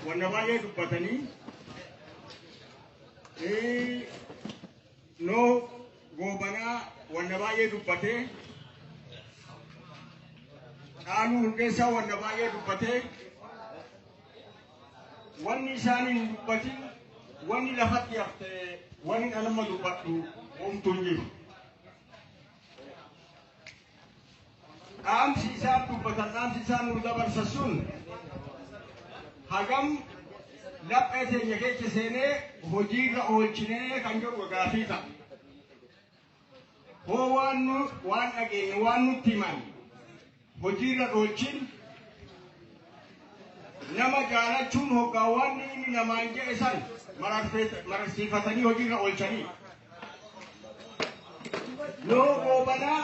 Wanna baay'ee dubbatanii noo goobanaa wanna baay'ee dubbatee dhaaluu hundeessaa wanna baay'ee dubbatee wanni isaanii hin dubbatin wanni lafatti hafte wanni dhalama dubbadhu homtuu hin jiru. dhaamsi isaan dubbatan dhaamsi isaan nu dabarsa sun hagam laphee teenya keessa seenee hojiirra oolchinee kan jedhu gaafii ta'a. Hoo waan nu waan dhageenye waan nutti himan Hojiirra oolchin nama jaalachuun hoggaawwan inni namaan jedhe san mararsiifatanii hojiirra oolchanii yoo goobanaa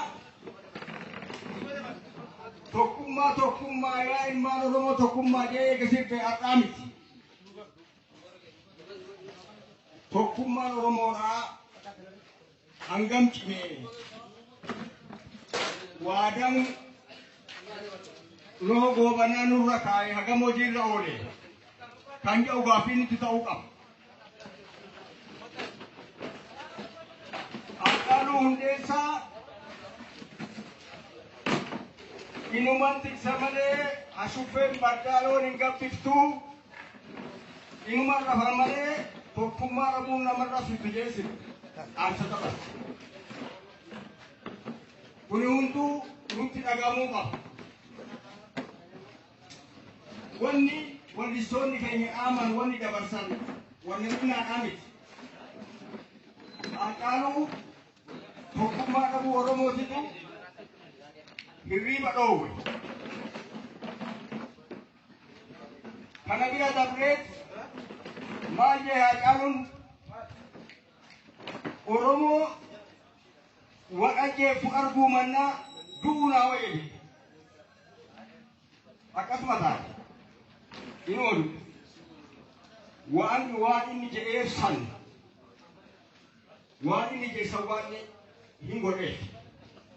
tokkummaa tokkummaa yaa ilmaan oromoo tokkummaa jedhee eegasii ta'e har'aa miti. Tokkummaan oromoodhaa hangam cimee waadaan loo goobanaa nurra kaa'e hagam hojiirra oole kan jedhu gaaffiin itti ta'uu qaba. Haacaaluu Hundeessaa inuman tiksa malee ashuffeen bardaaloo hin gabbiftuu Inuma rafan malee tokkummaa dhabuun namarra fiddu jeesif dhaamsa qaban. Kuni hunduu nutti dhagahamuu qaba. Wanni wannistoonni keenya dhaaman wanni dabarsan wanni dhinaadhaa miti. Haacaaluu tokkummaa dhabuu Oromootitu hirriiba dhoowwe. Kana bira dabreet maal jee Haacaaluun Oromoo waqajjeef arguu mannaa du'uu naa wayyeedhe. Akkasuma taate hin oolu. Waan waan inni jedheef san waan inni jedhe san waan hin godheef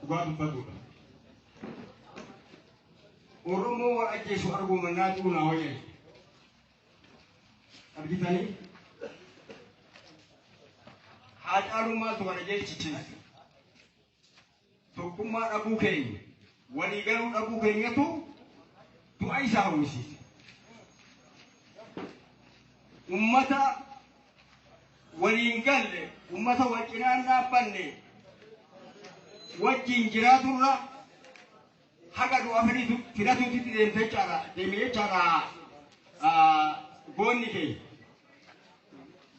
dhugaa dubbatudha. Oromoo wal ajjeesu arguu mannaa du'uu naa wayya. Argitanii? Haa caalummaatu kana jechichiisa. Tokkummaa dhabuu keenya, walii galuu dhabuu keenyatu du'a isaa hawwisiisa. Ummata waliin galle, ummata wal cinaan dhaabbanne, wajjin jiraaturra haga du'a fedhitu fidatuutitti deemte jechaadha deeme jechaadha ah, goonni kee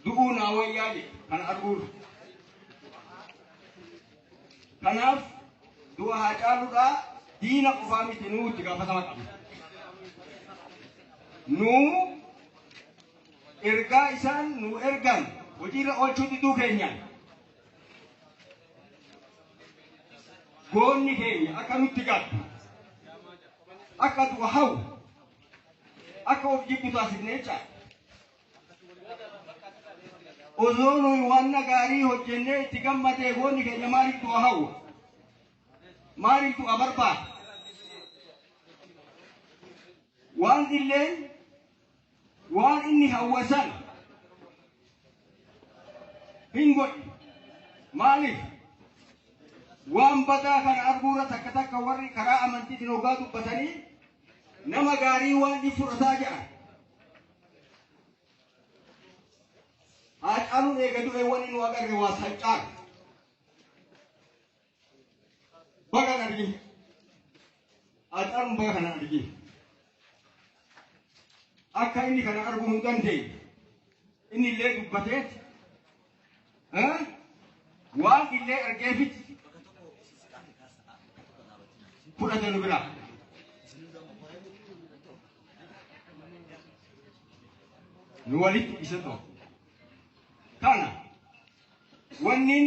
du'uu naa wayyaa jedhe kana arguurra kanaaf du'a haa caaludhaa diina qofaa miti nuu itti gaafatama qabna nuu ergaa isaan nuu ergan hojiirra oolchuu diduu keenyaan goonni keenya akka nutti gaddu akka du'a hawu akka of jibbu taasifnee caala. Osoo nuyi waan gaarii hojjennee itti gammadee goonni keenya maaliif du'a hawu? Maaliif du'a barbaada? Waan illeen Waan inni hawwe san hin godhe. Maaliif? Waan badaa kana arguurra takka takka warri karaa amantiitiin hoggaa dubbatanii nama gaarii waan ni fudhataa jedhan. Haacaaluun eega du'e wanni nu agarre waa sancaaru. Baga kan arginu. Haadhaan baga kana arginu. Akka inni kana arguu hin dandeenye. Inni illee dubbatee eh, waan illee argeefit fudhate nu biraa. Nu walitti isa ta'u. Kana Wannin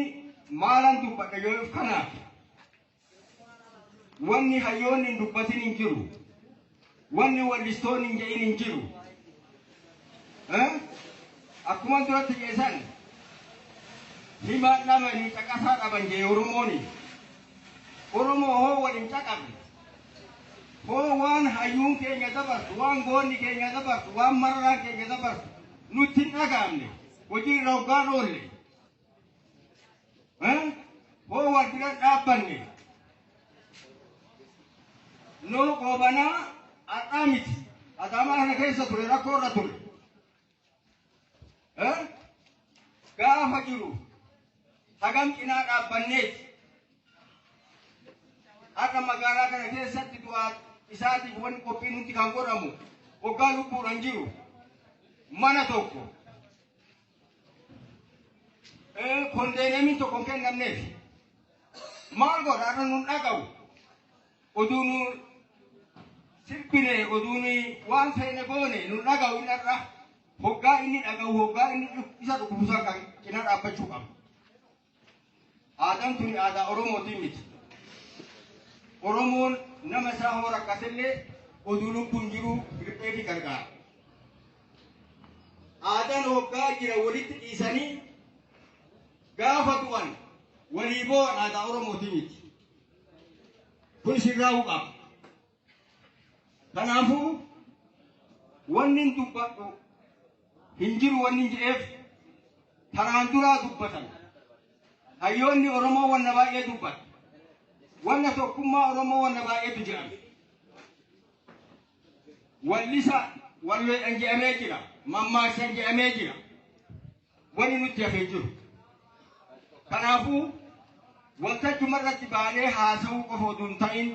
maalan dubbadha jedheef kanaaf. Wanni hayyoonni hin dubbatin hin jiru. Wanni wallistoonni hin jedhin hin jiru. Eh? Akkuma duratti keessan himaa dhabanii caqasaa dhaban jee Oromooni. Oromoo hoo waliin caqabne. Hoo waan hayyuun keenya dabarsu, waan goonni keenya dabarsu, waan mararaan keenya dabarsu nutti hin dhagaamne. hojii irra hoggaan oolle hoo wal bira dhaabbanne noo goobanaa har'aa miti adaamaa kana keessa ture rakkoo irra ture gaafa jiru Hagam cinaa dhaabbanneeti har'a magaalaa kana keessatti du'aa isaatiif wanni qophiin hundi kan godhamu waggaa lubbuudhaan jiru mana tokko kondeeneemiin tokko hin kennamneef maal godha har'a nun dhaga'u oduu nu sirbine oduu waan feene goone nun dhaga'u hin har'a. Hoggaa inni dhaga'u hoggaa inni dhuk- isa dhukkubu san kan cina dhaabbachuu qaba. Aadaan tuni aadaa Oromootiin miti. Oromoon nama isaa hoo rakkatellee oduu lubbuun jiru riphee fi gargaara. Aadaan hoggaa jira walitti dhiisanii gaafa du'an walii boo'an aadaa Oromootiin miti. Kun sirraa'uu qaba. Kanaafuu wanni hin dubbadhu hin jiru wanni hin jedheef karaan duraa dubbatan. Hayyoonni Oromoo wanna baay'ee dubbatu. Wanna tokkummaa Oromoo wanna baay'eetu jedhame. Wallisa walweedhan jedhamee jira. Mammaaksan jedhamee jira. wani nutti hafe hin jiru. Kanaafuu waltajjuma irratti baanee haasa'uu qofa oduu hin ta'in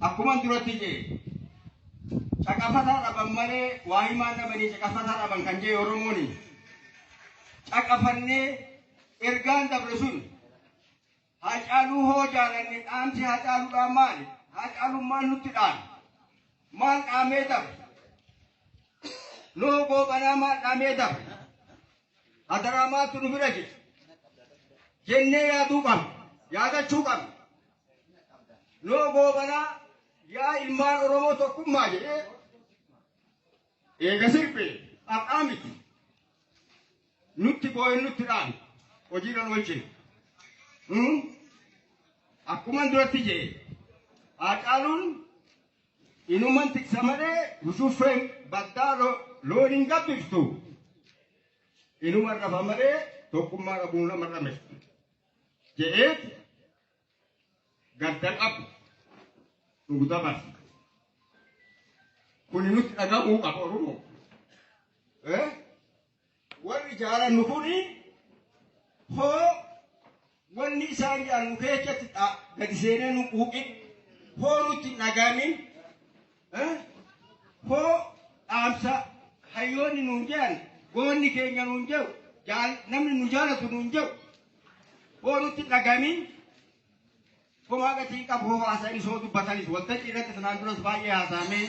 akkuman duratti jedhe caqafataa dhaban malee waa himaa dhabanii caqafataa dhaban kan jedhe Oromooni caqafannee ergaan dabre sun Haacaaluu hoo jaalanne dhaamsi Haacaaluudhaan maali? Haacaaluun maal nutti dhaame? Maal dhaamee dabre? Noo Goobanaa maal dhaamee dabre? Hadaraa maaltu nu bira jira? Jennee yaaduu qabna. Yaadachuu qabna. Noo Goobanaa yaa ilmaan Oromoo tokkummaa jedhee Eega sirbee har'aa miti nutti boo'een nutti dhaame hojiirra oolchine. Nuun akkuman duratti jee haacaaluun inuman tiksa malee husuffeen baddaa lo- loon hin gabbiftu. Inuman rafa malee tokkummaa dhabuun nama dhameftu. Je'eet gadda qabu nuuf dabarsa. Kuni nutti dhaga'uu qaba Oromoo. Eh? Warri jaalannu kuni hoo wanni isaan jaalannu keessatti dha- gadi seenee nu quuqe hoo nutti hin dhaga'amin Hoo dhaamsa hayyoonni nuun jedhan goonni keenya nuun jedhu jaal- namni nu jaalatu nuun jedhu hoo nutti dhagamin homaa gatiin qabu hoo haasa'an isoo dubbatanis waltajjii irratti sanaan duras baay'ee haasa'amee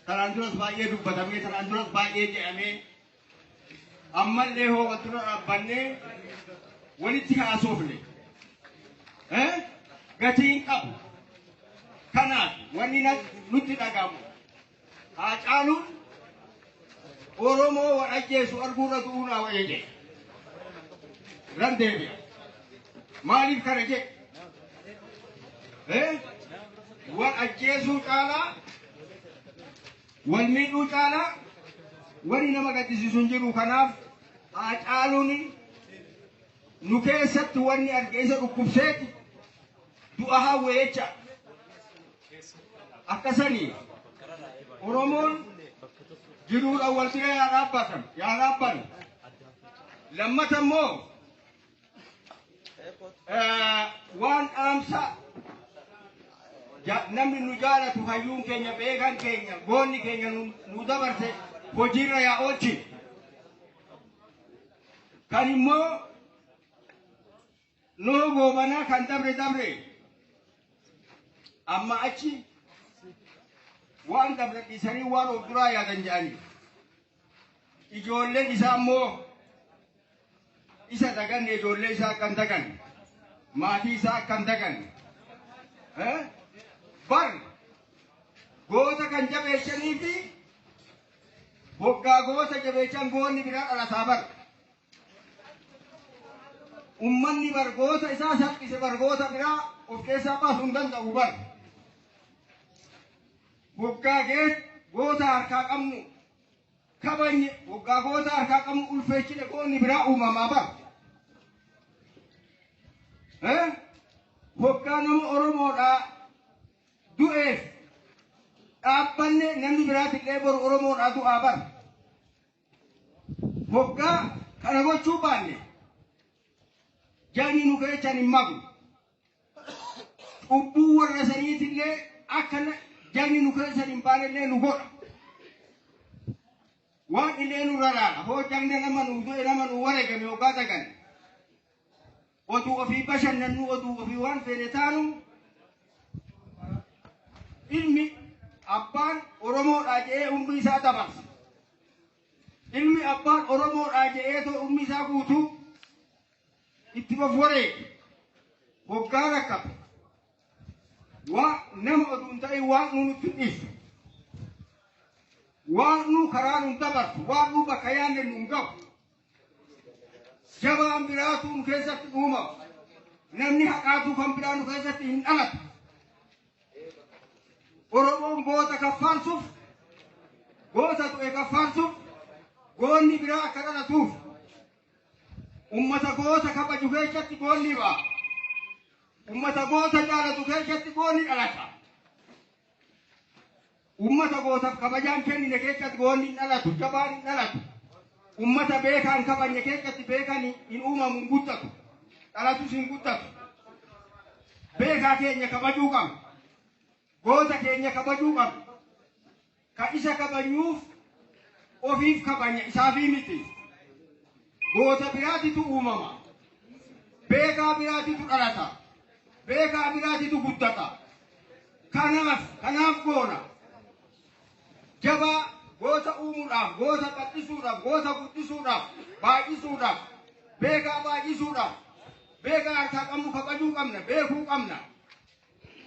sanaan duras baay'ee dubbatamee sanaan duras baay'ee jedhamee ammallee hoo wal dura dhaabbannee walitti haasofne eh, gatii hin qabu. Kanaaf wanni na- nutti dhagahamu haa caaluun Oromoo wal ajjeesu arguurra du'uu naa wayya jedhe. Nan deebi'a. Maaliif kana jedhe? Eh? Wal ajjeesuu caalaa Wal miidhuu caalaa wani nama gaddisiisu hin jiru kanaaf Haacaaluun nu keessatti wanni arge isa dhukkubseeti du'a hawwe jecha akkasanii Oromoon jiruudhaan wal bira yaa dhaabbatan yaa dhaabban lammata immoo waan dhaamsa namni nu jaalatu hayyuun keenya beekan keenya goonni keenya nu dabarse hojiirra yaa oolchi kan immoo noo goobanaa kan dabre dabre amma achi waan dabre dhiisanii waan of duraa yaadan jedhanii Ijoolleen isaa immoo isa daganne ijoollee isaa akka hin daganne maatii isaa akka hin daganne eh? bar goota kan jabeessanii fi waggaa goota jabeessan goonni biraa dhalataa bar ummanni bar goota isaa salphise bar goota biraa of keessaa baasuu hin danda'u bar Boggaa geet goota harkaa qabnu kabajne boggaa goota harkaa qabnu ulfeechine goonni biraa uumamaa bara. Boggaa nama Oromoodhaa du'eef dhaabbanne namni biraati illee boru Oromoodhaa du'aa bara. Boggaa kana gochuu baanne jaanni nu keechan hin magu. Cubbuu warra saniitillee akka jagni nu keessan hin baanellee nu godha. Waan illee nu raraadha. Hoo jagna nama nu du'e nama nu wareegame yookaan dagan. Oduu ofii bashannannu oduu ofii waan feene taanu ilmi abbaan Oromoodhaa jedhee umrii isaa dabarsa. Ilmi abbaan Oromoodhaa jedhee too umrii isaa guutuu itti bofforee hoggaa takka waa nama oduu hin ta'in waan nuun itti dhiisu waan nuu karaa nuun dabarsu waan nuu bakka yaanne nuun ga'u jabaan biraatu nu keessatti uumamu namni haqaatu kan biraa nu keessatti hin dhalatu oromoon goota kaffaalsuuf goota du'e kaffaalsuuf goonni biraa akka dhalatuuf Ummata goota kabaju keessatti goonni ba'a. Ummata goota jaalatu keessatti goonni dhalata. Ummata gootaaf kabajaan kennine keessatti goonni hin dhalatu, jabaan hin dhalatu. Ummata beekaa hin kabajne keessatti beekan hin uumamu hin guddatu. Dhalatus hin guddatu. Beekaa keenya kabajuu qabna. Goota keenya kabajuu qabna. Ka isa kabanyuuf ofiif kabanya isaafii miti. Goota biraatitu uumama. Beekaa biraatitu dhalata. Beekaa biraatitu guddata. Kanaaf kanaaf goona. Jabaa goota uumuudhaaf, goota bal'isuudhaaf, goota guddisuudhaaf, baay'isuudhaaf, beekaa baay'isuudhaaf, beekaa harkaa qabnu kabajuu qabna, beekuu qabna.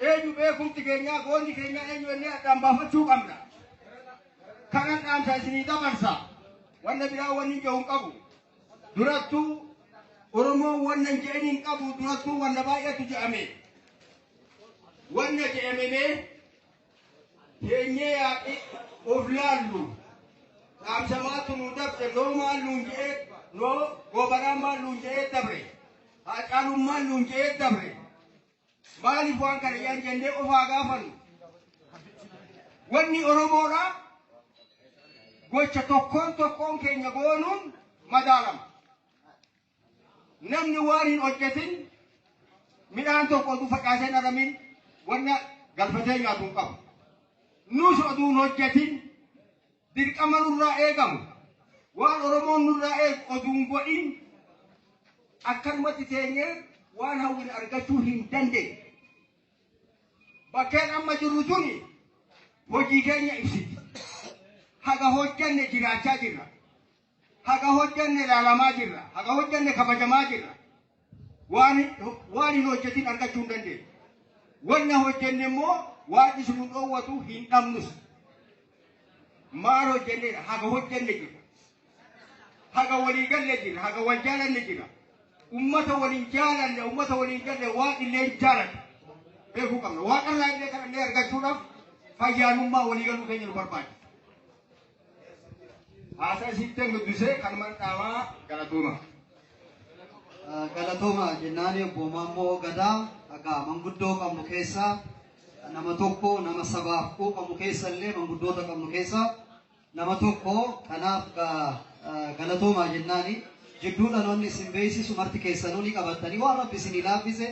Eenyu beekumti keenyaa goonni keenyaa eenyu illee addaan baafachuu qabna. Kanan dhaamsa isinii dabarsa. Wanna biraa wanni hin jedhu qabu. Durattuu Oromoon wanna hin jedhin hin qabu durattuu wanna baay'eetu jedhame. Wanna jedhamemee teenyee yaaqee of laallu. Dhaamsa maaltu nu dabse noo maal nuun jedhee noo gobaraan maal nuun jedhee dabre. Haacaaluun maal nuun jedhee dabre. Maaliif waan kana jedhan jennee of haa gaafannu. Wanni Oromoodha gocha tokkoon tokkoon keenya goonuun madaalama. Namni waan hin hojjetin midhaan tokko oduu facaasee hin aramin wanna galfatee nyaatu hin qabu. Nus oduu hin hojjetin Dirqama nurraa eegamu waan Oromoon nurraa eegu oduu hin godhin akkanumatti teenyee waan hawwine argachuu hin dandeenye. Bakkeen amma jirru tuni hojii keenya ibsiti. Haga hojjanne jiraachaa jirra. Haga hojjanne ilaalamaa jirra. Haga hojjanne kabajamaa jirra. Waan waan hin hojjetin argachuu hin dandeenye. Wanna hojjenne immoo waan isin nu dhoowwatu hin dhabnus. Maal hojjenneedha? Haga hojjenne jirra. Haga walii galle jirra. Haga wal jaalanne jirra. Ummata waliin jaalanne, ummata waliin galle waan illee hin jaalanne. Beekuu qabna. Waaqarraa illee kana illee argachuudhaaf fayyaanummaa walii galuu keenya nu barbaachisa. Haasaa isiittan dubbisee kanumaan dhaabaa galatooma. Galatooma jennaani obbo Maammoo Gadaa akka manguddoo qabnu keessaa nama tokko nama sabaaf quuqamu keessa illee manguddoota qabnu keessaa nama tokko kanaaf galatooma jennaani jidduu dhaloonni isin beeksisu marti keessanuu ni qabattanii waan rabbi isin laaffise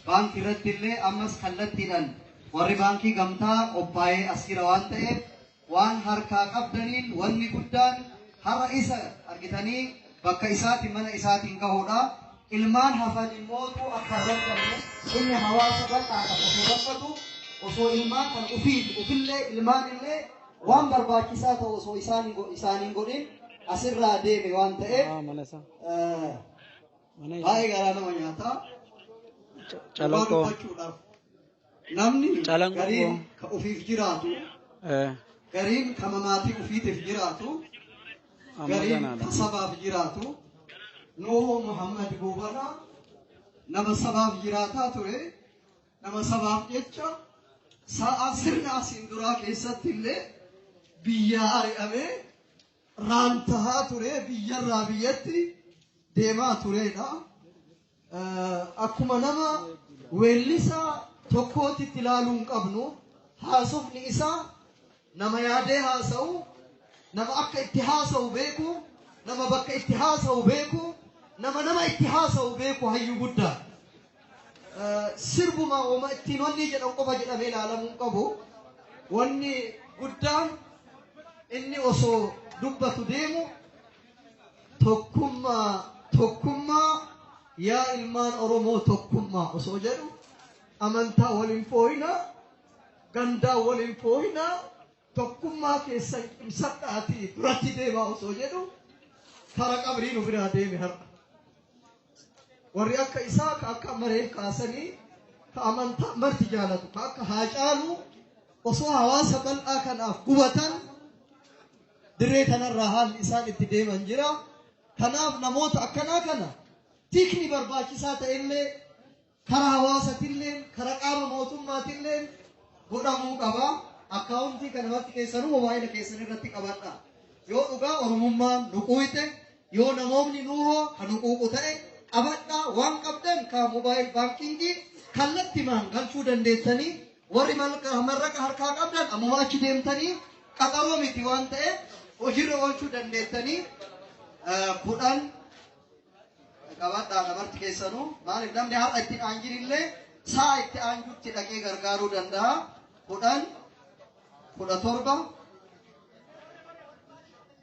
baankii irratti illee ammas kallattiidhaan warri baankii gamtaa qophaa'ee as jira waan ta'eef Waan harkaa qabdaniin wanni guddaan har'a isa argitanii bakka isaati mana isaatiin gahuudha. Ilmaan hafan immootu akka hin rakkanne inni hawaasa bal'aa kan osoo rakkatu osoo ilmaan kan ufiif ufillee ilmaan illee waan barbaachisaa ta'u osoo isaan isaaniin godhin asirraa deeme waan ta'eef Ah, mana isaa. eh, Mana isaa. baay'ee garaa nama nyaata. Dhugaa Calaqoo. dubbachuudhaaf Namni Calanqoo. gariin ka ofiif jiraatu, Eh, gariin ka mamaatii ofiitiif jiraatu, amma gariin ganaadha. ka sabaaf jiraatu. Nuhu Muhammad Buubana nama sabaaf jiraataa ture, nama sabaaf jecha sa'a sirna asiin duraa keessatti illee biyyaa ari'amee raantahaa ture, biyyarraa biyyatti deemaa turedha. akkuma nama weellisaa tokkootti itti ilaaluu hin qabnu haasofni isaa nama yaadee haasa'u nama akka itti haasa'u beeku nama bakka itti haasa'u beeku nama nama itti haasa'u beeku hayyuu guddaa sirbuma wama ittiin wanni jedhan qofa jedhamee ilaalamuu hin qabu wanni guddaan inni osoo dubbatu deemu Tokkummaa tokkummaa yaa ilmaan Oromoo tokkummaa osoo jedhu amantaa waliin fooyinaa gandaa waliin fooyinaa tokkummaa keessan cimsadhaatii duratti deemaa osoo jedhu kara qabrii nu biraa deeme har'a. Warri akka isaa ka akka maree kaasanii ka amantaa marti jaalatu ka akka haacaalu osoo hawaasa bal'aa kanaaf gubatan Dirree kanarraa haalli isaan itti deeman jira. Kanaaf namoota akkanaa kana tikni barbaachisaa ta'ellee karaa hawaasatillee karaa qaama mootummaatillee godhamuu qaba. Akkaawuntii kana marti keessanuu mobaayila keessan irratti qabadha. Yoo dhugaa Oromummaan nu quuqe yoo namoonni nuuhoo kan nu quuqu ta'e qabadhaa waan qabdan kan mobaayil baankingii kallattimaan galchuu dandeessanii Warri mallaqa harkaa qabdan ammuma achi deemtanii qaxaroo miti waan ta'eef hojiirra oolchuu dandeettanii kudhan qabaadhaa lamarti keessanuu maaliif namni har'a itti aanjin illee saa itti aanjutti dhaqee gargaaruu danda'a kudhan kudha torba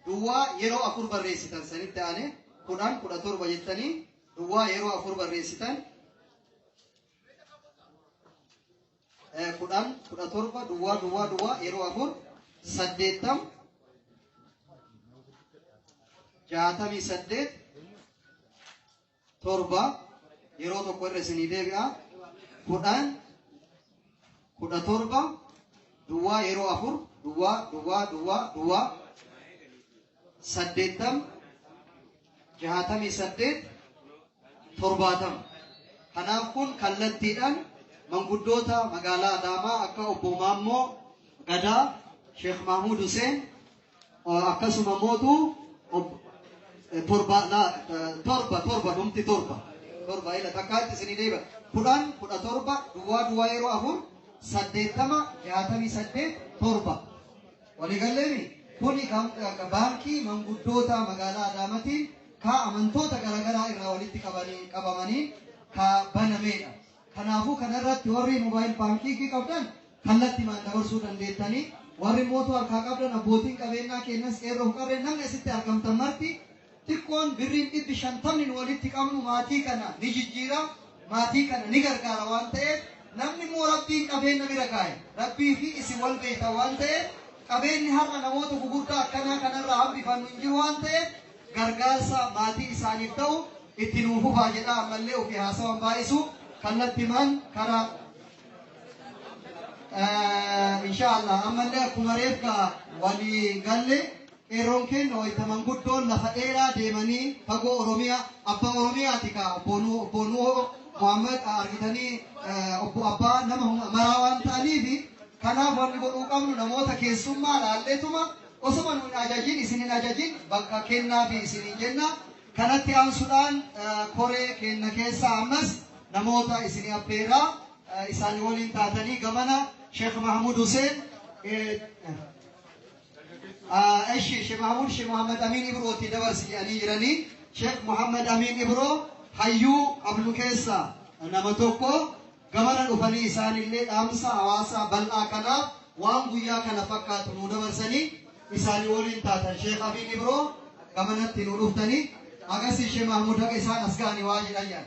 duwwaa yeroo afur barreessitan sanitti aane kudhan kudha torba jettanii duwwaa yeroo afur barreessitan Eh, kudhan kudha torba duwwaa duwwaa duwwaa yeroo afur saddeettam jaatamii saddeet torba yeroo tokko irra isinii deebi'a kudhan kudha torba duwwaa yeroo afur duwwaa duwwaa duwwaa duwwaa saddeettama, jaatamii saddeet, torbaatama. Kanaaf kun kallattiidhaan manguddoota magaalaa Adaamaa akka obbo Maammoo Gadaa, Sheekh Mahmud Hussein akkasuma mootu torba torba torba dhumti torba torba ila takkaatti isinii deeba kudhan kudha torba duwwaa duwwaa yeroo afur saddeettama jaatamii saddeet torba Waligaleni kuni ka Baankii Manguddoota Magaalaa Adaamatiin ka amantoota garagaraa irraa walitti qabamaniin ka banameedha. Kanaafuu kana irratti warri Mobile Banking qabdan kallattimaan dabarsuu dandeettanii, warri Moto harkaa qabdan abbootiin qabeennaa keennas, qeerroof qarreen namni asitti argamtan marti, xiqqoon birriin dhibbi shantamni nu walitti qabnu maatii kana ni jijjiira, maatii kana ni gargaara waan ta'eef namni immoo Rabbiin qabeenna bira kaa'e Rabbii fi isin wal beektan waan ta'eef qabeenni har'a namoota gugurdaa akkanaa kanarraa hambifannu hin jiru waan ta'eef gargaarsa maatii isaaniif ta'u itti nuuf fufaa jedhaa ammallee ofii haasawan baay'isu kallattimaan karaa insha Allah ammallee akkuma reefka walii galle Qeerroon keenna wayta manguddoon lafa dheeraa deemanii fagoo Oromiyaa abbaa Oromiyaati kaa obbo Nuhoo obbo Nuhoo Muhammad argitanii eh, obbo abbaa nama hunda maraa waan ta'aniifi kanaaf wanni godhuu qabnu namoota keessummaa laalleetuma osoma nu hin ajajin isin hin ajajin bakka kennaa fi isin hin jenna kanatti aansuudhaan eh, koree keenna keessaa ammas namoota isin abbeeraa eh, isaanii waliin taatanii gamana Sheekh Mahmud Hussein eh, Eshi Sheikh Mahmud Sheikh Muhammad Amin Ibro ti dabarsi jedhanii jiranii Sheikh Muhammad Amin Ibro hayyuu qabnu keessa nama tokko gamana dhufanii isaanillee dhaamsa hawaasaa bal'aa kanaaf waan guyyaa kana fakkaatu nu dabarsanii isaanii waliin taatan Sheikh Amin Ibro gamanatti nu dhuftanii agasii Sheikh Mahmud haqa isaan as ga'anii waa jedhan jedhan.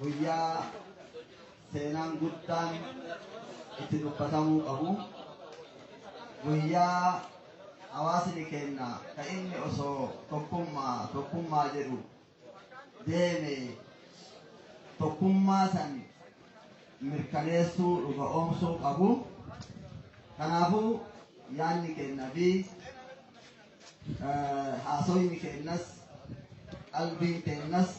Guyyaa seenaan guddaan itti dubbatamuu qabu guyyaa hawaasni keenya ka inni osoo tokkummaa tokkummaa jedhu deeme tokkummaa san mirkaneessuu dhuga oomsuu qabu. Kanaafuu yaadni keenya fi eh, haasoyni keenyas qalbiin keenyas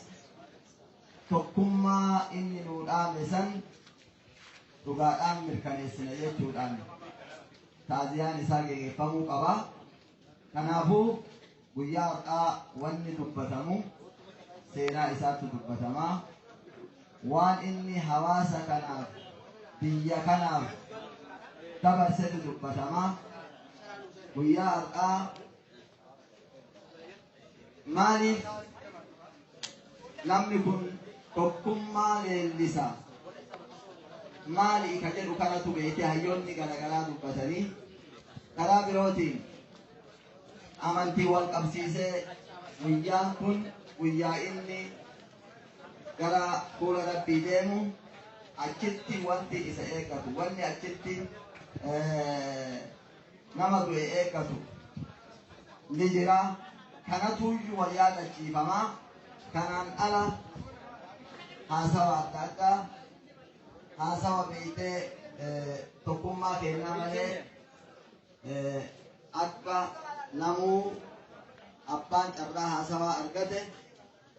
tokkummaa inni nuu dhaame san dhugaadhaan mirkaneessina jechuudhaan taaziyaan isaa geggeeffamuu qaba. Kanaafuu guyyaa har'aa wanni dubbatamu seenaa isaatti dubbatama. Waan inni hawaasa kanaaf biyya kanaaf dabarsetu dubbatama. Guyyaa har'aa Maaliif namni kun tokkummaa leellisa maali ka jedhu kanatu beekee hayyoonni garaagaraa dubbatanii karaa birootiin amantii wal qabsiisee guyyaan kun guyyaa inni gara fuula rabbii deemu achitti wanti isa eeggatu wanni achitti eh, nama du'e eeggatu ni jira. Kanatuyyuu wal yaadachiifama. Kanaan ala haasawa adda addaa haasawa beektee eh, tokkummaa kennaa malee eh, akka namuu abbaan carraa haasawaa argate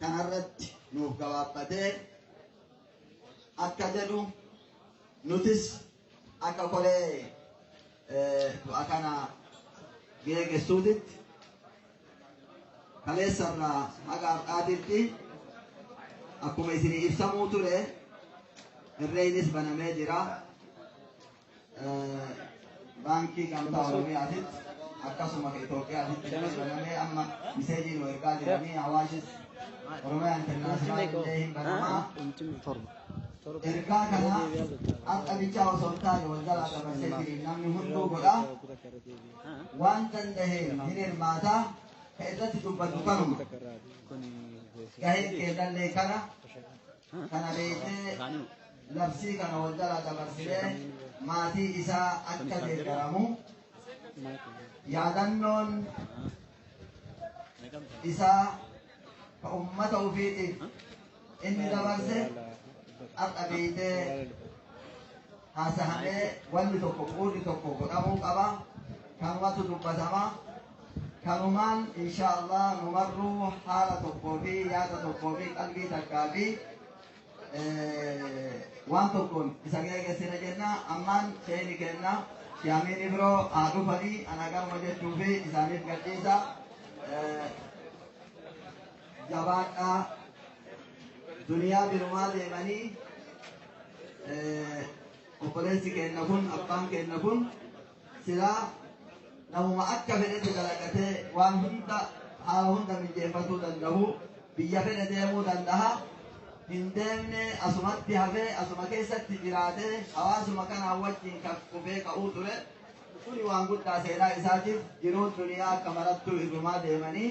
kanarratti nuuf gabaabbatee akka jedhu nutis Akka koree du'a kana geeggessuutitti kaleessarraa haga har'aatitti akkuma isin ibsamuu ture irreeynis banamee jira. Baankii Gamtaa Oromiyaatitti akkasuma ka Itoophiyaatitti illee banamee amma miseejii nu ergaa jiranii hawaashis Oromiyaa Intarnaashinaal illee hin banamaa. Ergaa kana har'a bichaa osoo hin taane wal jalaa dabarsee jireenya namni hunduu godha. Waan danda'een hin hirmaata. Ka irratti dubbatu kanuma. Gaheen keellallee kana. Kana beeknee labsii kana wal jalaa dabarsinee maatii isaa akka deeggaramu yaadannoon isaa ka ummata ufiitiif inni dabarse har'a beeytee haasahamee wanni tokko quudhi tokko godhamuu qaba kanumatu dubbatama kanumaan insha allah numarruu haala tokkoo fi yaada tokkoo fi qalbii takkaa fi waan tokkoon isa geegessina jenna ammaan sheeni kenna shaamiin ibroo haa dhufanii ana garuma jechuu fi isaaniif gadhiisa jabaadhaa duniyaa birumaa deemanii obboleessi keenna kun abbaan keenna kun Silaa namuma akka fedhetti dalagatee waan hunda haala hunda mijeeffatuu danda'u biyya fedhe deemuu danda'a. Hin deemne asumatti hafee asuma keessatti jiraatee hawaasuma kanaan wajjin kan qubee ka'uu ture. Kuni waan guddaa seenaa isaatiif jiruun duniyaa akka marattuu irrumaa deemanii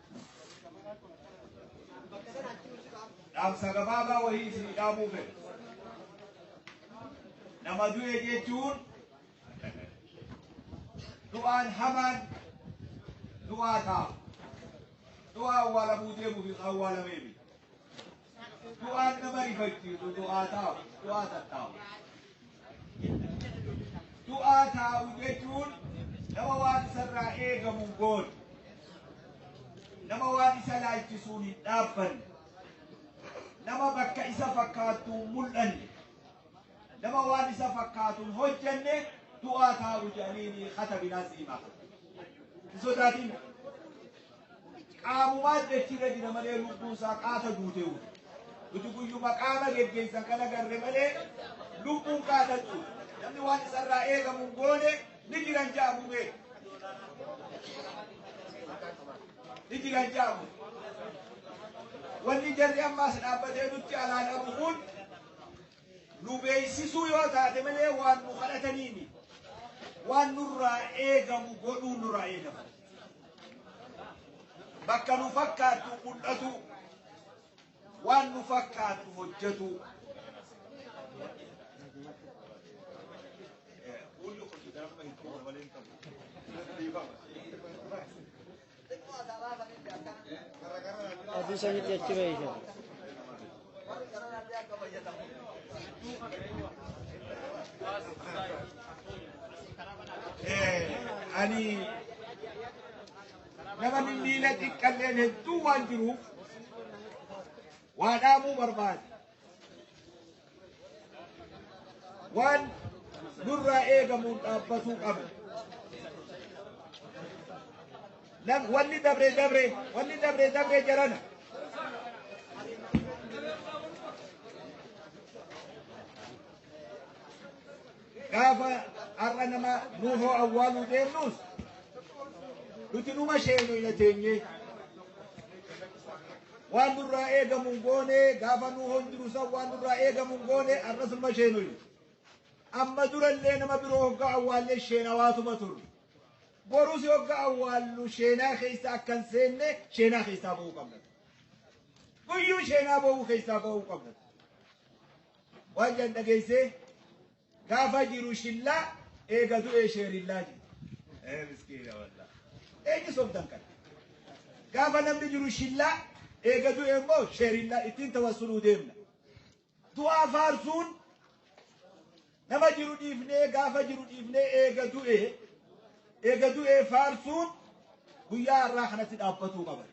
dhaamsa gabaabaa wayii isin dhaamuu fedha. Nama du'e jechuun du'aan hamaan du'aa ta'a. Du'aa awwaalamuu deemuuf hin awwaalamee miti. Du'aan nama rifachiisu du'aa taa'u, du'aa tattaa'u. Du'aa taa'u jechuun nama waan isarraa eegamu hin goone, nama waan isa laalchisuun hin dhaabbanne, nama bakka isa fakkaattu hin mul'anne, nama waan isa fakkaatu hin hojjenne du'aa taa'u jedhanii ni katabinaa siimaa. Hin sodaatin. Qaamumaan dachirra jira malee lubbuun isaa qaata duute uuta. Nuti guyyuma qaama geggeessan kana garre malee lubbuun qaata duute. Namni waan isarraa eegamu hin goone ni jiran jaamu mee. Ni jiran jaamu. Wanni jarri ammaas dhaabbatee nutti alaan abu kun nu beeksisuu yoo taate malee waan nu kadhatanii miti. Waan nurraa eegamu godhuu nurraa eegama. Bakka nu fakkaattu mul'atu, waan nu fakkaattu hojjetu. Hundi hojjetan amma hin qabu malee hin qabu. Adii sanitti achi beeyta. ani nama miila xiqqalleen hedduu waan jiruuf waa dhaamuu barbaade. waan nurraa eegamuun dhaabbatuu qabna. Nam wanni dabre dabre wanni dabre dabre jarana. Gaafa har'a nama nuufoo awwaaluu deemnus nuti numa sheenu hin ateenye. Waan nurraa eegamu hin goone gaafa nuufoo hin jiru san waan nurraa eegamu hin goone har'as numa sheenu. Amma durallee nama biroo hoggaa awwaallee sheenawaatuma turre. Borus hoggaa awwaallu sheenaa keessa akka hin seenne sheenaa keessaa ba'uu qabna. Guyyuu sheenaa ba'uu keessaa ba'uu qabna. Waan jan dhageessee gaafa jiru shillaa eega du'ee sheerillaa jiru. Ee miskiina wallaa. Eenyu sobdan kana? Gaafa namni jiru shillaa eega du'e immoo sheerillaa ittiin tawassuluu deemna. Du'aa faarsuun nama jiru dhiifnee gaafa jiru dhiifnee eega du'e eega du'e faarsuun guyyaa har'aa kanatti dhaabbatuu qaba.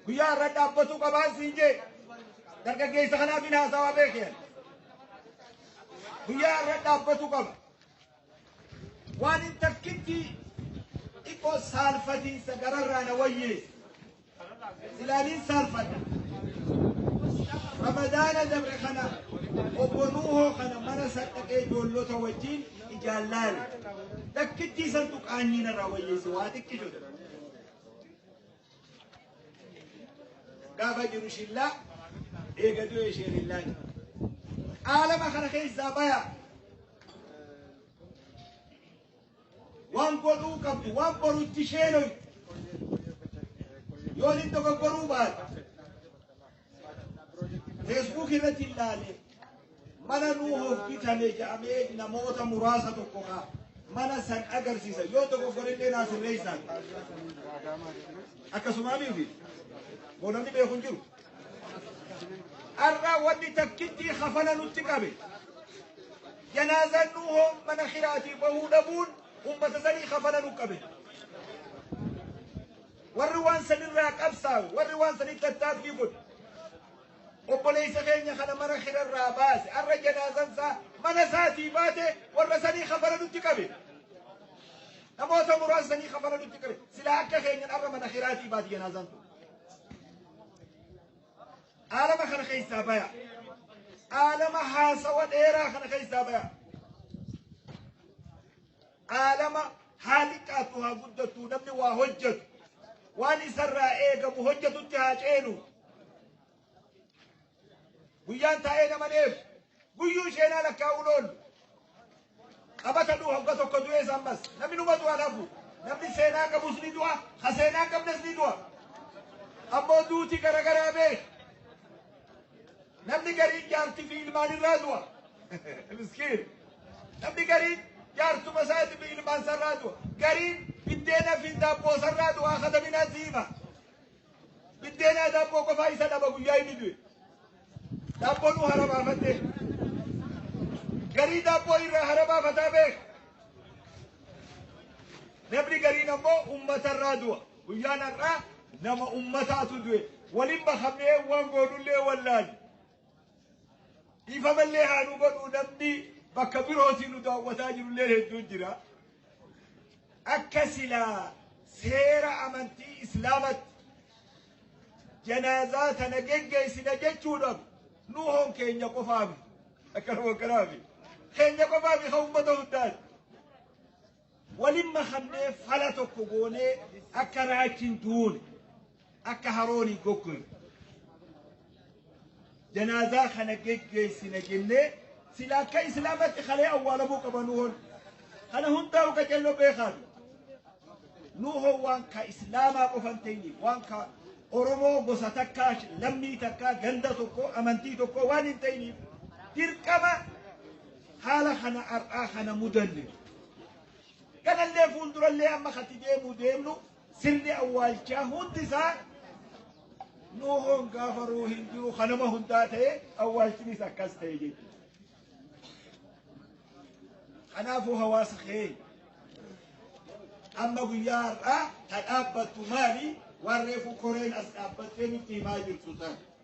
Guyyaa irra dhaabbatuu qabaan siin jee dargaggeessa kanaaf hin haasawaa beekeen. Guyyaa irra dhaabbatuu qaba. Waan hin takkitti xiqqoo saalfatiinsa gararraa na wayyee. Ilaaliin saalfadha. Ramadaana dabre kana obbo Nuuhoo kana mana sadhaqee ijoollota wajjin ijaallaale. Takkittii santu qaanyii narraa wayyeesse waa xiqqishoodha. gaafa jiru shillaa eega du'e isheen illaa jiru. Qaalama kana keessaa baya. Waan godhuu qabdu, waan borutti isheen hoy. Yoo inni dogoggoruu baate, Facebook irratti ilaale mana nuu hoggitame jedhamee namoota muraasa tokko ka mana san agarsiisa yoo tokko godhillee naa sirreessaan akkasumaa miti boodamni beeku hin jiru. Har'a wanni takkitti hafana nutti qabe janaazaan nuu hoo mana kiraatii bahuu dhabuun uummata sanii hafana nu qabe. Warri waan sanirraa qabsaa'u, warri waan sanitti tattaaffii godhu. Obboleessa keenya kana mana hirarraa baase, har'a janaazan isaa mana isaatii baate warra sanii kafala nutti qabe. Namoota muraasa sanii kafala nutti qabe. Silaa akka keenyan har'a mana hiraatii baate janaazan kun. Aalama kana keessaa baya. Aalama haasawa dheeraa kana keessaa baya. Aalama haa xiqqaattu haa guddattu namni waa hojjetu waan isarraa eegamu hojjetutti haa ceenu. Guyyaan taa'ee nama neef guyyuu isheen haala kaa'uun oolu. Qabata du'a hogga tokko du'ees ammas namni numa du'a lafu namni seenaa qabus ni du'a ka seenaa qabnes ni du'a. Ammoo duuti garagaraa beeku. Namni gariin jaartii fi ilmaan irraa du'a. Miskiin. Namni gariin jaartuma isaati fi ilmaan isarraa du'a. Gariin biddeena fi daabboo isarraa du'a kadaminaa siima. Biddeena daabboo qofaa isa dhaba guyyaa inni du'e. Daabboo nu haramaafattee. Garii daabboo irraa haramaafataa beeka. Namni gariin ammoo uummatarraa du'a. Guyyaan har'aa nama ummataatu du'e. Waliin makamnee waan goonullee wallaalle. Dhiifamallee haa nu godhu namni bakka birootiin nu daawwataa jirullee hedduun jira. Akka silaa seera amantii Islaamatti janaazaa tana geggeessina jechuudhaaf nu hoon keenya qofaafi. Akkanuma akkanaafi. Keenya qofaafi kan uummata hundaati. Walin makamnee fala tokko goonee akka raachi hin duune, akka haroon hin goggoyne. Janaazaa kana geggeessina jennee sila akka islaamatti kalee awwaalamuu qaba nu hon. Kana hundaa'u qacello beekaatu. Nu hon waan ka islaamaa qofan ta'ini waan ka Oromoo gosa takkaa lammii takkaa ganda tokko amantii tokko waan hin ta'iniif dirqama haala kana har'aa kana mudanne kanallee fuuldurallee amma kati deemuu deemnu sirni awwaalchaa hundi isaa nu hongaa faruu hin jiru kanama hundaa ta'e awwaalchinis akkas ta'e jechuudha. Kanaafuu hawaasa keenya amma guyyaa har'aa ta dhaabbattu maali waan reefu koreen as dhaabbattee nutti himaa jirtu ta'a.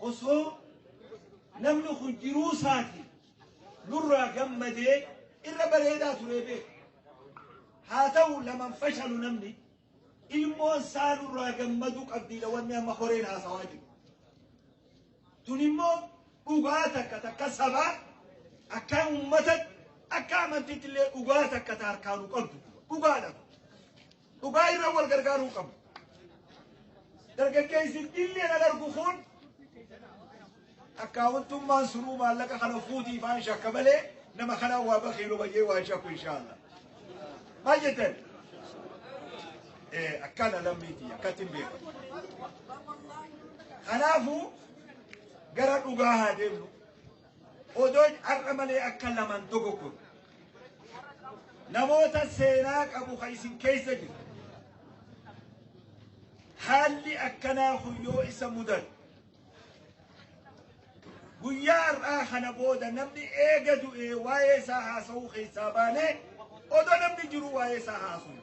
osoo namni kun jiruu isaati nurraa gammadee irra bareedaa turee beeku. Haa ta'u laman fashalu namni ilmoon isaa nurraa gammaduu qabdiidha wanni amma horeen haasawaa jiru. Tun immoo dhugaa takka takka sabaa akka uummatatti akka amantiitti illee dhugaa takka ta harkaanuu qabdu dhugaadha. Dhugaa irra wal gargaaruu qabna. Dargaggeessi dillee na darbu kun akkaawwantummaan sunuu maallaqa kana fuutii faan shakka malee nama kana waa bakiilu bayyee waa shakku inshaallah. Maal jettan? Eh, akkana lammiitii akkatti hin beeku. Kanaafuu gara dhugaa haa deemnu. Odoo har'a malee akka lamaan dogoggorru. Namoota seenaa qabu kan isin keessa jiru. Haalli akkanaa kun yoo isa mudatu. Guyyaa har'aa kana booda namni eega du'ee waa'ee isaa haasa'uu keessaa baanee odoo namni jiru waa'ee isaa haasa'u.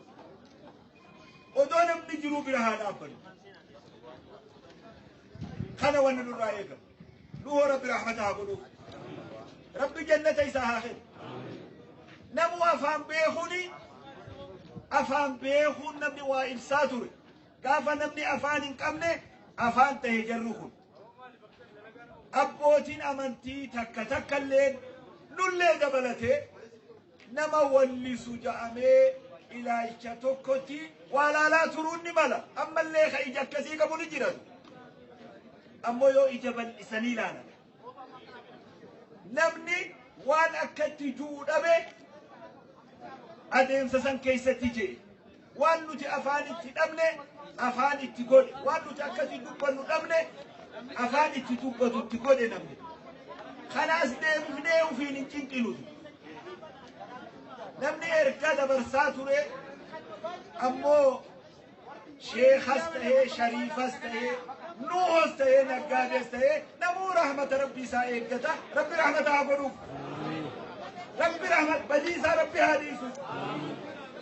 Odoo namni jiru bira haa dhaabbannu. Kana wanni nurraa eegamu. Nuhoo rabbi rahmata haa godhuu. Rabbi jannata isaa haa kennu. Namuu afaan beekuni afaan beekuun namni waa ibsaa ture. Gaafa namni afaan hin qabne afaan ta'e jarri kun. Abbootiin amantii takka takka illee nullee dabalatee Nama wallisu ja'amee ilaalcha tokkotti waa laalaa turuun ni mala. Ammallee ka ija akkasii qabu ni jiran. Ammoo yoo ija bal'isanii ilaalan. Namni waan akkatti ju'u dhabe adeemsa san keessatti jee. Waan nuti afaan itti dhabne afaan itti godhe. Waan nuti akkasii dubbannu dhabne afaan itti dubbatu itti godhe namni. Kanaas deebifnee ofiin hin cinqinuti. Namni erga dabarsaa ture ammoo sheekas ta'ee shariifas ta'ee nuuhos ta'ee naggaadees ta'ee namuu rahmata rabbii isaa eeggata rabbi rahmata haa godhuuf. Rabbi rahmat badii isaa rabbi haa dhiisu.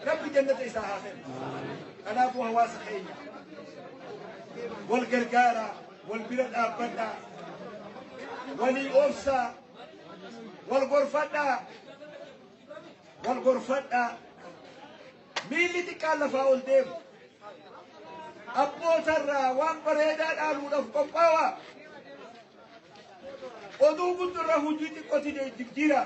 Rabbi jannata isaa haa kennu. Kanaafuu hawaasa keenya wal gargaaraa, wal bira dhaabbadhaa, walii obsaa, wal gorfadhaa, wal gorfadhaa. Miilli xiqqaan lafaa ol deemu. Abbootarraa waan bareedaa dhaaluudhaaf qophaa'aa. Oduu guddurra hojii xiqqootiin jijjiiraa.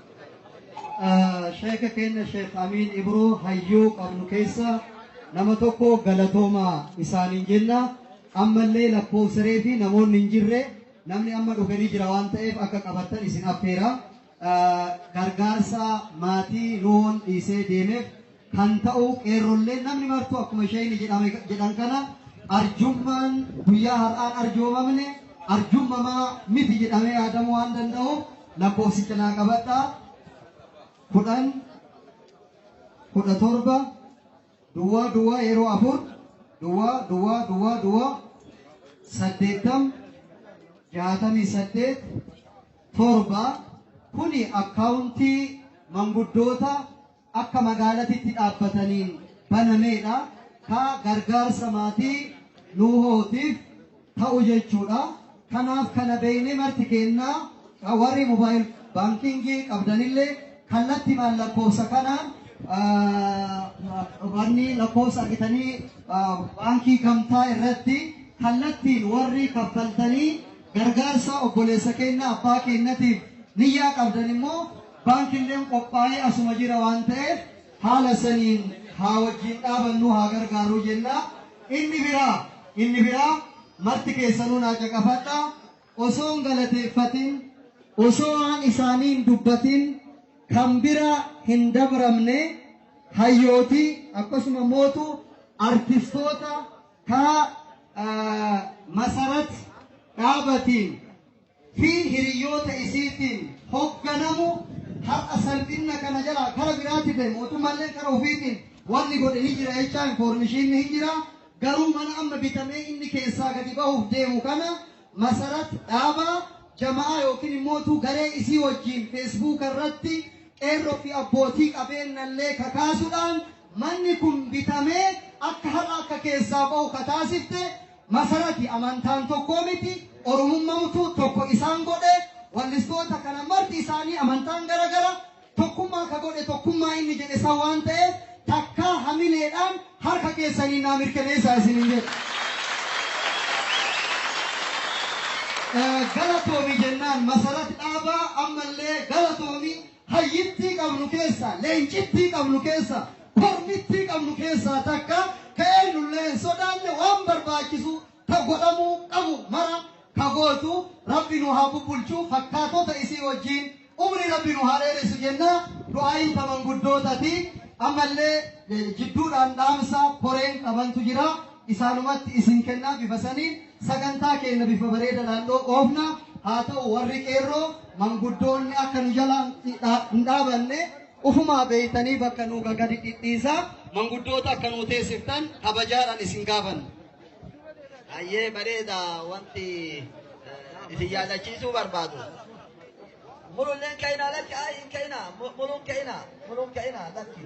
Sheeka keenya Sheek Amiin Ibruu hayyuu qabnu keessa nama tokko galatooma isaaniin jenna. Ammallee lakkoofsaree fi namoonni hin jirre namni amma dhufe ni jira waan ta'eef akka qabattan isin affeera. Gargaarsa maatii nuun dhiisee deemeef kan ta'uu qeerrolleen namni martuu akkuma isheen jedhame jedhan kana arjummaan guyyaa har'aan arjoomamne arjummamaa miti jedhamee yaadamuu waan danda'uuf lakkoofsicha naa qabadhaa kudhan kudha torba duwwaa duwwaa yeroo afur duwwaa duwwaa duwwaa duwwaa saddeettam jaatamii saddeet torba kuni akkaawuntii manguddoota akka magaalatitti dhaabbataniin banameedha. Ka gargaarsa maatii Nuuhootiif ta'u jechuudha. Kanaaf kana beeknee marti keennaa ka warri mobaayil baankiingii qabdanillee kallattimaan lakkoofsa kanaan wanni lakkoofsa argitanii baankii gamtaa irratti kallattiin warri kaffaltanii gargaarsa obboleessa keenya abbaa keenyatiif niyyaa qabdan immoo Bank illeen qophaa'ee asuma jira waan ta'eef haala saniin haa wajjiin dhaabannuu haa gargaaruu jenna. Inni biraa inni biraa marti keessanuu naa caqafadha. Osoo hin galateeffatin osoo waan isaanii hin dubbatin kan bira hin dabramne hayyooti akkasuma mootu artistoota kaa masarat dhaabatiin fi hiriyyoota isiitiin hogganamu har'a salphinna kana jalaa kara biraatti ta'e mootummaallee kara ofiitiin wanni godhe ni jira jechaa infoormishiinni hin jira garuu mana amma bitamee inni keessaa gadi bahuuf deemu kana masarat dhaaba jama'aa yookiin immootu garee isii wajjiin feesbuuka irratti qeerroo fi abbootii qabeenyallee kakaasuudhaan manni kun bitamee akka har'a akka keessaa bahu kataasifte masarati amantaan tokkoo miti oromummamtu tokko isaan godhe wallistoota kana marti isaanii amantaan gara gara tokkummaa ka godhe tokkummaa inni jedhe san waan ta'eef takkaa hamileedhaan harka keessanii naa mirkaneessaa isinin jedhe. galatoomi jennaan masarat dhaabaa ammallee galatoomi Hayyittii qabnu keessaa, leencittii qabnu keessaa, kormittii qabnu keessaa takka ka eennullee hin sodaanne waan barbaachisu ka godhamuu qabu mara ka gootu Rabbi nu haa bubbulchu fakkaatota isii wajjiin umrii Rabbi nu haa dheeressu jenna du'aayin ta manguddootati ammallee eh, jidduudhaan dhaamsa koreen qabantu jira Isaanumatti isin kennaa bifa saniin sagantaa keenna bifa bareedadhaan dho oofna. Haa ta'u warri qeerroo manguddoonni akka nu jalaa hin dhaabanne ufumaa beeytanii bakka nuu gagadi dhidhiisaa manguddoota akka nuu teessiftan kabajaadhaan isin gaafanna. Hayyee bareeda wanti eh, isin yaadachiisuu barbaadu. Mululleen ka'ina lakki ayi hin ka'ina mulun ka'ina mulun ka'ina lakki.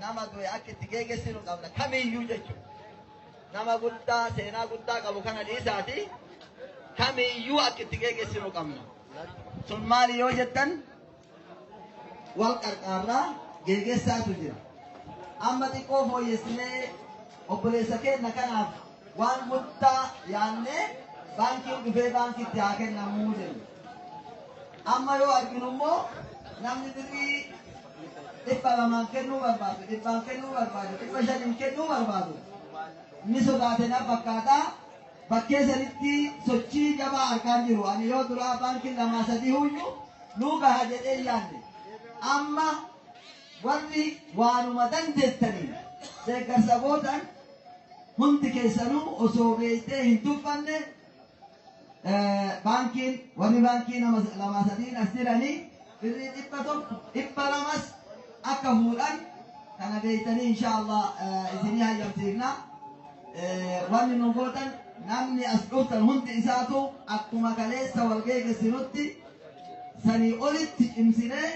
nama du'e akka itti geegessinu qabna kamiyyuu jechuudha. Nama guddaa seenaa guddaa qabu kana dhiisaati kamiyyuu akka itti geegessinu qabna. Sun maali yoo jettan wal qarqaarraa geegessaatu jira. Amma xiqqoo fooyyessinee obboleessa keenya kanaaf Waan guddaa yaannee baankiin dhufee baankitti haa kennamuu jenna. Amma yoo arginu immoo namni birrii dhibba lamaan kennuu barbaadu, dhibbaan kennuu barbaadu, dhibba shaniin kennuu barbaadu. Ni sodaate na fakkaata. Bakkee sanitti sochii jabaa argaan jiru. Ani yoo duraa baankiin lamaa sadii huyyuu nuu gaha jedhee yaadne. Amma Warri waanuma dandeettaniin deeggarsa gootan hundi keessanuu osoo beektee hin tuffanne baankiin warri baankii nama lamaa sadiin as jiranii birrii dhibba tokko dhibba lamas akka fuudhan kana beektanii inshaallah isinii hayyamsiifna wanni nu gootan namni as dhuftan hundi isaatu akkuma kaleessa wal geegessinutti sanii olitti cimsinee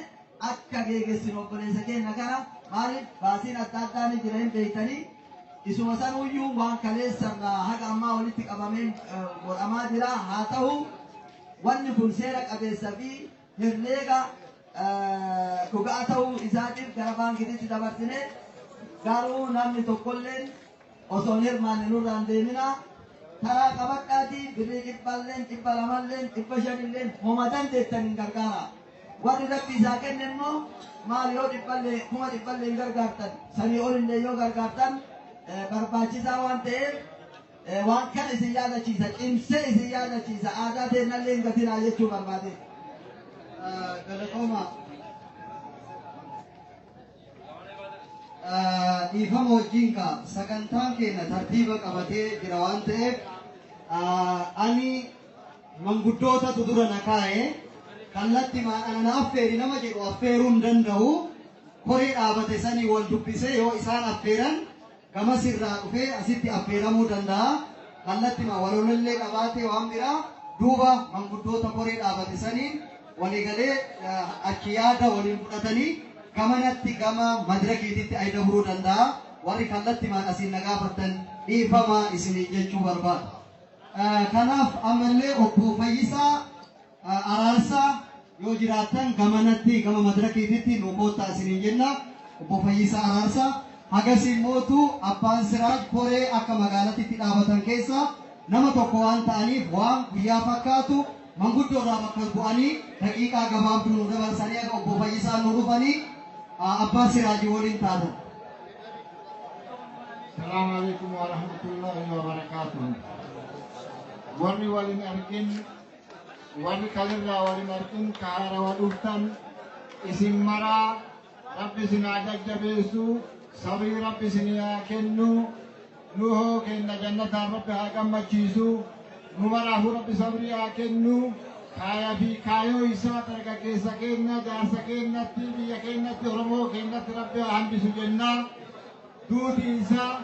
akka geegessinu obboleessa keenna kana maaliif baasiin adda addaa ni jira hin beektanii isuma sanuyyuu waan kaleessarraa haga ammaa walitti qabameen eh, godhamaa jira haa ta'u wanni kun seera qabeessa fi herreega eh, dhugaa ta'uu isaatiif gara baankiititti dabarsine garuu namni tokkolleen Osoo hin hirmaanne nurraa hin deeminaa taraa qabadhaatii birrii dhibbaalleen dhibba lamalleen dhibba shanilleen homa dandeettaniin gargaaraa. Warri Rabbi isaa kenne immoo maal yoo dhibballee kuma dhibballeen gargaartan sanii olillee yoo gargaartan barbaachisaa waan ta'eef waan kana isin yaadachiisa cimsee isin yaadachiisa aadaa teennallee hin gatinaa jechuu barbaade. Galatooma. dhiifama wajjin ka sagantaan keenya tartiiba qabatee jira waan ta'eef ani manguddootatu dura na kaa'e kallatti maadhana na affeeri nama jedhu affeeruu hin danda'u koree dhaabate sanii wal dubbisee yoo isaan affeeran gamas irraa dhufee asitti affeeramuu danda'a. Kallattima walolollee qabaatee waan biraa duuba manguddoota koree dhaabate saniin waliigalee achi yaada waliin fudhatanii gamanatti gama madirakiititti ay dabruu danda'a. Warri kallattimaan asiin na gaafattan dhiifama isiniin jechuu barbaada. Kanaaf ammallee obbo Fayyisaa Araarsaa yoo jiraattan gamanatti gama madirakiititti nuu koottaa isiniin jenna. Obbo Fayyisaa Araarsaa. Hagasii mootu Abbaan Siraaj koree akka magaalatitti dhaabatan keessaa nama tokko waan ta'aniif waan guyyaa fakkaatu manguddoo irraa bakka bu'anii daqiiqaa gabaabduu nuu dabarsanii akka Obbo Fayyisaan nuu dhufanii Abbaa Siraajii waliin taatan. Salaam alaikum wa rahmatullahi wa barakatuh. Warri waliin argin Wani kalirraa wal hin argin ka haarawa dhuftan isin maraa rabbi isin haa jajjabeessu sabrii rabbi isin haa kennu nu hoo kenna jannataan rabbi haa gammachiisu nu maraafuu rabbi sabrii haa kennu kaaya fi kaayoo isaa dargaggeessa keenya jaarsa keenyatti biyya keenyatti oromoo keenyatti rabbi haa hambisu jennaa. Duuti isaa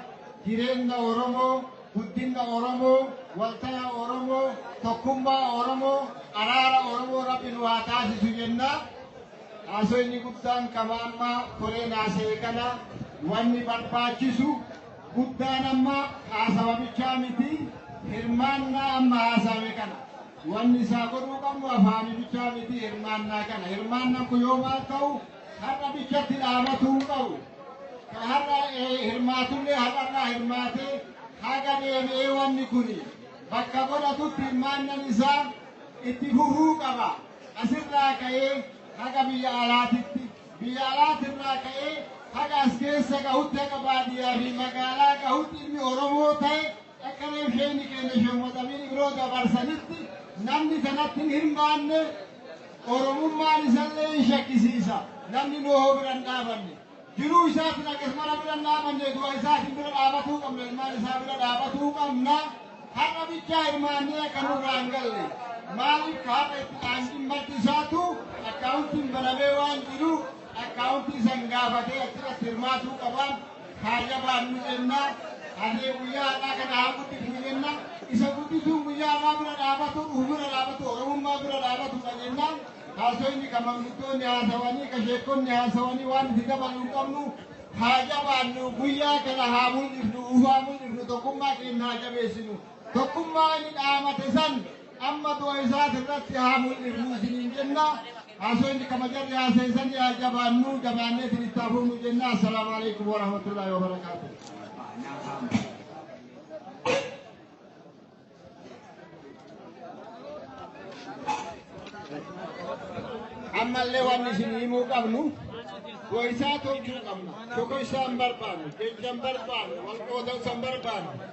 jireenna Oromoo, guddinna Oromoo, waltaya Oromoo, tokkummaa Oromoo, araara Oromoo Rabbi nu haa taasisu jenna. Haasoo inni guddaan qaba amma koreen haasa'e kana wanni barbaachisu guddaan amma haasawa bichaa miti hirmaannaa amma haasa'ame kana. Wanni isaa godhuu qabnu afaanii bichaa miti hirmaannaa kana. Hirmaannaan kun yoo maal ta'u Har'a bichatti dhaabatu hin qabu. Ka har'a hirmaatullee har'arraa hirmaatee haga deebi'ee wanni kun bakka godhatutti hirmaannan isaa itti fufuu qaba. Asirraa ka'ee haga biyya alaatitti, biyya alaatirraa ka'ee haga as keessa gahutti haga baadiyyaa fi magaalaa gahutti inni Oromoo ta'e akka reefsheenni keenya shemmoxamiin biroo dabarsanitti namni kanatti hin hirmaanne Oromummaan isallee hin shakkisiisa. Namni Nohoo bira hin dhaabanne. Jiruu isaatiin akkasumara bira hin dhaabanne du'a isaatiin bira dhaabatuu qabna. Ilmaan isaa bira dhaabatuu qabna. Har'a bichaa hirmaannee akka nurraa hin galle. Maaliif har'a itti dhaanqiin maddi isaatu akkaawuntiin banamee waan jiru akkaawuntii san gaafatee achirratti hirmaatuu qaba. haa jabaannu jenna. Harree guyyaa har'aa kana haa guddifnu jenna. Isa guddisuun guyyaa har'aa bira dhaabatu, dhufu bira dhaabatu, Oromummaa bira dhaabatudha jennaan. Haasofni kan manguddoonni haasawanii, kan sheekonni haasawanii waan itti dabalu hin qabnu. Haa jabaannu guyyaa kana haa mul'ifnu, ufaa mul'ifnu, tokkummaa keenya haa jabeessinu. Tokkummaa inni dhaamate san Amma du'a isaati irratti haa mul'ifnu isiniin jenna. Haasofni kabajarri haaseessan yaa jabaannu jabaannee isin itti hafuunu jenna. Assalaamu alaikum warahmatullahi wabarakaatuh. ammallee waan isin himuu qabnu goisaa tolchuu qabna. Tokko isaan barbaanne, keenya hin barbaanne, wal qoodan san barbaanne.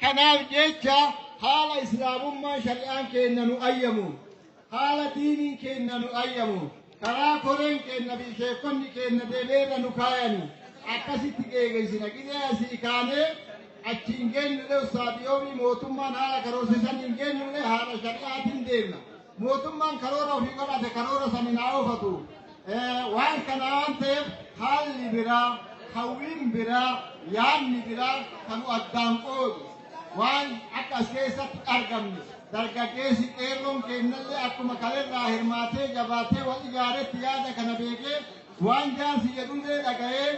Kanaaf jecha haala Islaamummaan shari'aan keenna nu ayyamuun, haala diiniin keenna nu ayyamuun, karaa koreen keenna fi sheekkonni keenna deemee irra nu kaayanii akkasitti geegeessina. Gizee asii kaanee achi hin geenyullee ustaadii yoomii mootummaan haala karoorsisan hin geenyullee haala shari'aatiin deemna. Mootummaan karoora ofii godhate karoora saniin haa oofatu. Waan kana waan ta'eef haalli biraa, hawwiin biraa, yaadni biraa kan addaan qoodu waan akka as keessatti argamne dargaggeessi qeerroon keennallee akkuma kalerraa hirmaatee jabaatee wal ijaaretti yaada kana beekee waan jaarsi jedhullee dhaga'ee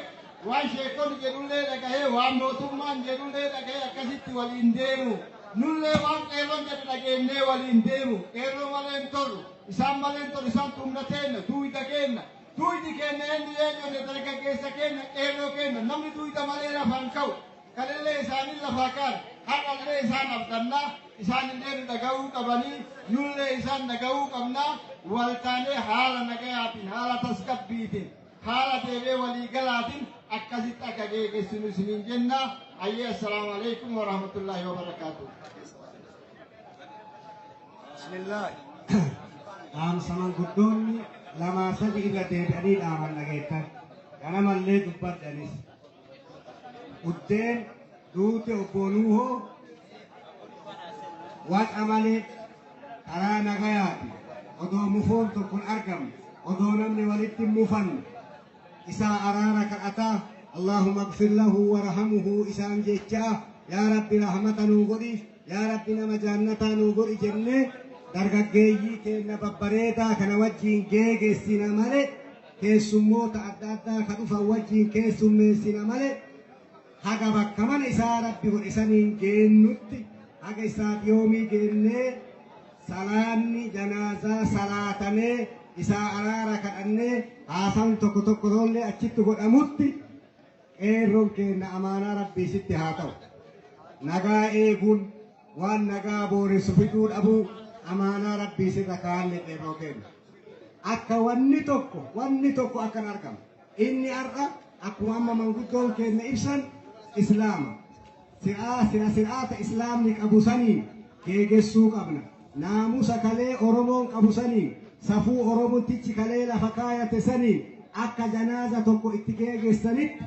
Waan sheekkonni jedhullee dhagahee waan mootummaan jedhullee dhagahee akkasitti waliin deemu. Nullee waan qeerroon jedhu dhageennee waliin deemu. Qeerroo malee hin tolu. Isaan malee hin tolu. Isaan humna teenna, duuyda keenna. Duuydi keenna eenyu yoo jenne dargaggeessa keenna, qeerroo keenna. Namni duuyda malee lafa hin ka'u. Kalillee isaanii lafaa ka'an. Har'allee isaan abdanna. Isaanillee nu dhaga'uu qabanii. Nullee isaan dhaga'uu qabna. Waltaanee haala nagayaatiin, haala tasgabbiitiin. Haala deebee walii galaatin akkasitti akka geegessinu isiniin jenna. Ayyee assalaamu alaikum wa rahmatullahi wa barakaatu. Bismillah. Dhaamsa manguddoonni lamaa sadi irra deebi'anii dhaaman dhageettan. Ganamallee dubbadhanis. Buddeen duute obboo Nuuhoo waca malee karaa nagayaati odoo mufoon tokko hin argamne odoo namni walitti hin mufanne isaa araara kadhataa Allaahumma gfir lahu warhamuhu isaan jechaa yaa rabbi rahmata nuu godhiif yaa rabbi nama jaannataa nuu godhi jennee dargaggeeyyii keenya babbareedaa kana wajjiin geegessina malee keessummoota adda addaa ka dhufan wajjiin keessummeessina male haga bakka mana isaa rabbi godhe saniin geennutti haga isaaf yoomii geennee salaanni janaazaa salaatamee isaa araara kadhannee haasaan tokko tokko roollee achitti godhamutti qeerroon keenna amaanaa rabbii sitti haa ta'u nagaa eeguun Waan nagaa booressu fiduu dhabuu amaanaa Rabbii sirra kaa'anne qeerroo keenya. Akka wanni tokko wanni tokko akkan argamu. Inni har'a akkuma amma manguddoon keenya ibsan Islaama. Si'aa sira sir'aata Islaamni qabu saniin geegessuu qabna. Naamusa kalee Oromoon qabu saniin safuu Oromootichi kalee lafa kaayate saniin akka janaaza tokko itti geegessanitti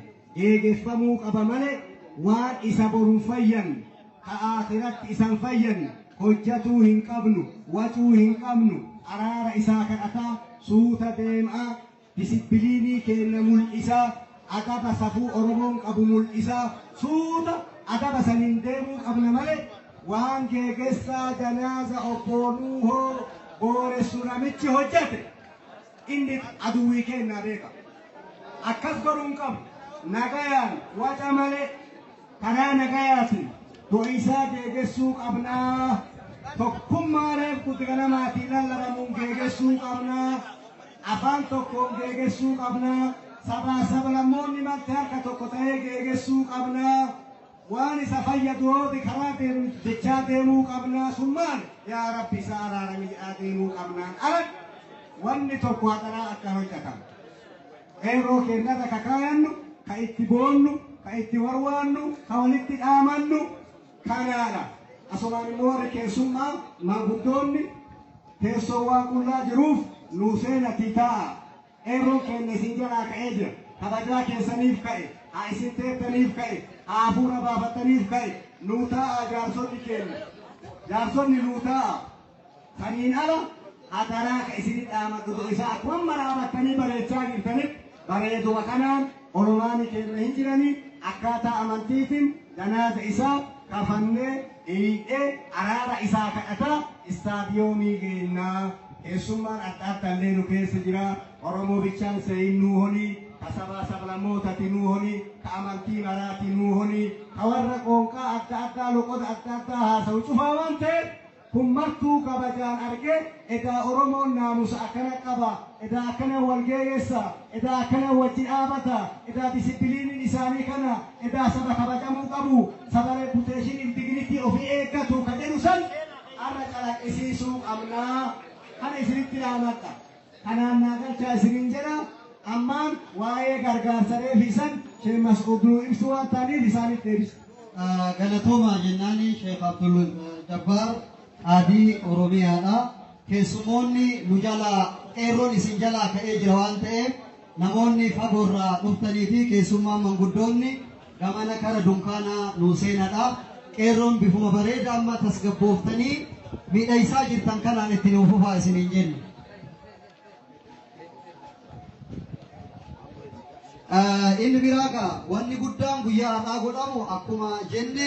eegeffamuu qaba male waan isa borun fayyan ka aakhiratti isan fayyan hojjatuu hin qabnu wacuu hin qabnu araara isaa kadhataa suuta deem'aa disipiliinii keenna mul'isaa adaba safuu oromoon qabu mul'isaa suuta adaba saniin deemuu qabna male waan geegessaa janaaza obboonuu hoo booressu namichi hojjate Inni aduwwii keenna beeka. Akkas godhuu hin qabnu. Nagayaan, waca malee, karaa nagayaatiin do'iisaa geegessuu qabna. Tokkummaa reef kuti ganamaatii lallabamuun geegessuu qabna. Afaan tokkoon geegessuu qabna. Sabaa sablammoonni marti harka tokko ta'ee geegessuu qabna. Waan isa fayyadu hooti karaa deemnuuf jechaa deemuu qabnaa sun maali? Yaa Rabbi isa araarami jedhaa deemuu qabnaan ala wanni tokko hadaraa akka hojjatamu. Qeerroo keennarra ka kaayannu, ka itti boonnu, ka itti warwaannu, ka walitti dhaamannu kanaadha. Asumaan immoo warri keessummaa maanguddoonni teessoo waan qullaa jiruuf nuu seenatii taa'a. Qeerroon keenya isin jalaa ka'ee jira. Kabajaa keessaniif ka'e, haa isin teettaniif ka'e, haa hafuura baafattaniif ka'e, nuu taa'aa jaarsonni keenya. Jaarsonni nuu taa'aa. Saniin ala hadaraa ka isin dhaamadhu isa akkuma maraabattanii bareechaa jirtanitti bareeduma kanaan Oromaani keerra hin jirani akkaataa amantiitin janaaza isaa kafannee dhiiydhee araara isaa kadhataa istaadiyoomii geennaa keessummaan adda addallee nu keessa jira Oromoo bichaan seeyin nuu holii ka sabaa sablamootati nuu holii ka amantii maraati nuu holii ka warra qoonqaa adda addaa loqoda adda addaa haasawu cufaa waan ta'eef Kun martuu kabajaan arge edaa oromoon naamusa akkana qaba edaa akkanan wal geeyessa edaa akkanan wajji dhaabata edaa disipiliinin isaanii kana edaa saba kabajamuu qabu saba reputation if dignity ofii eeggatu ka jedhu san arra calaqqisiisuu qabna kana isinitti dhaamadha. Kanaan naa galchaa isiniin jedha. Ammaan waa'ee gargaarsa reefi san Sheikh Mas'uud nuu ibsu waan ta'aniif isaaniif deebisa. Galatoomaa jennaani Sheikh Abdul Jabbaar Qaadii Oromiyaadha. Keessumoonni nu jalaa qeerroon isin jalaa ka'ee jira waan ta'eef Namoonni fagoo irraa dhuftanii fi keessummaan manguddoonni gamana kara dunkaanaa nuu seenadha. Qeerroon bifuma bareeda amma tasgabbooftanii miidhaysaa jirtan kanaan itti nuu fufaa isiniin jenna. Inni biraa gaa wanni guddaan guyyaa har'aa godhamu akkuma jenne